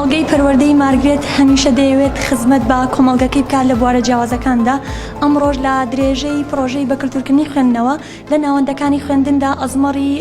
کۆمەڵگەی پەروەردەی مارگرێت هەمیشە دەیەوێت خزمەت بە کۆمەڵگەکەی بکات لە بوارە جیاوازەکاندا ئەمڕۆژ لە درێژەی پرۆژەی بەکلتورکردنی خوێندنەوە لە ناوەندەکانی خوێندندا ئەزمەڕی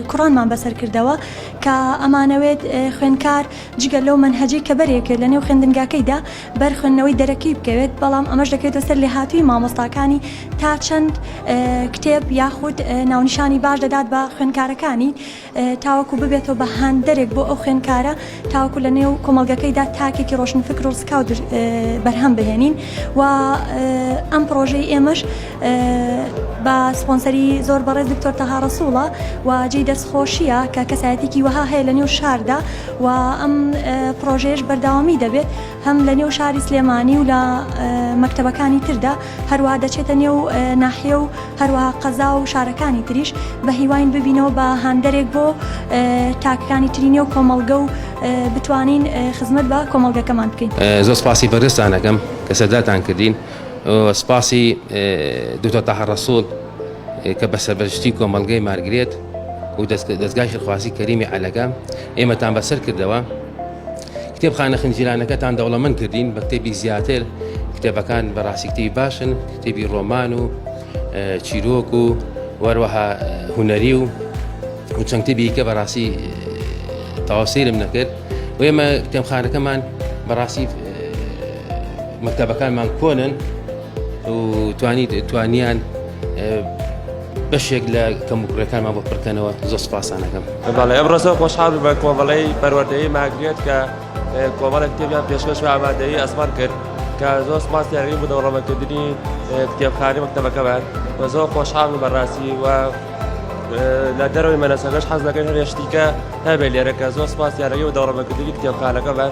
کوڕانمان بەسەرکردەوە کە ئەمانەوێت خوێندکار جگە لەو منهجەی کە بەرێکێت لە نێو خوێندنگاکەیدا بەر خوێندنەوەی دەرەکی بکەوێت، بەڵام ئەمەش دەکەوێتە سەر لێهاتوویی مامۆستاکانی تا چەند کتێب یاخود ناونیشانی باش دەدات بە خوێندکارەکانی تاوەکو ببێتەوە بە هاندەرێک بۆ ئەو خوێندکارە تاوەکو لە نێو کۆمەلگەکەیدا تاکێکی ڕۆشنفکر و ڕسکاو بەرهەم بهێنین و ئەم پرۆژەی ئێمەش بە سپۆنسەری زۆر بەڕێز دکتۆر تەها ڕەسووڵە و جێی دەست خۆشیە کە کەسایەتێکی وەها هەیە لە نێو شاردا و ئەم پرۆژێش بەرداوامی دەبێت هەم لە نێو شاری سلێمانی و لە مەکتەبەکانی تردا هەروە دەچێتە نێو ناحیە و هەروە قەزا و شارەکانی تریش بە هیواین ببینەوە بە هاندەرێک بۆ تاکەکانی تری نێو کۆمەڵگە و بتوانین خزمەت بە کۆمەڵگەکەمان بکەین زۆر سپاسی بەرزتانەکەم کە سەرداتان کردین. سپاسی دکتۆر تاهە ڕەسوڵ کە بە سەربەرشتی کۆمەڵگەی مارگرێت و دەستگای خێرخوازی کەریمی عەلەگە ئێمەتان بەسەر کردەوە کتێبخانە خنجیرانەکەتان دەوڵەمەند کردین بە کتێبی زیاتر کتێبەکان بەڕاستی کتێبی باشن کتێبی ڕۆمان و چیرۆک و وەروەها هوەری و و چەند کتێبی کە بەڕاستی تاوسیرم نەکرد و ئێمە کتێبخانەکەمان بەڕاستی مەکتەبەکانمان کۆنن و توانی توانیان بەشێک لە کەموکرەکانمان بۆ پڕکەنەوە زۆ سپاسانەکەم بەڵێ ئەم ڕۆژە خۆشحاڵ بە کۆمەڵەی پەروەردەی ماگرێت کە کۆمەڵێک کتێبیان پێشکەش و ئامادەی ئەسمان کرد کە زۆر سپاس یاوی بوو دەوڵەمەکردنی کتێبخانی مەکتەبەکەمان و زۆر خۆشحاڵ و بەڕاستی و لە دەرەوەی مەنەسەگەش حەز دەکەن هەرێشتیکە هەبێ لێرەکە زۆر سپاس یارەکەی و دەوڵەمەکردنی کتێبخانەکەمان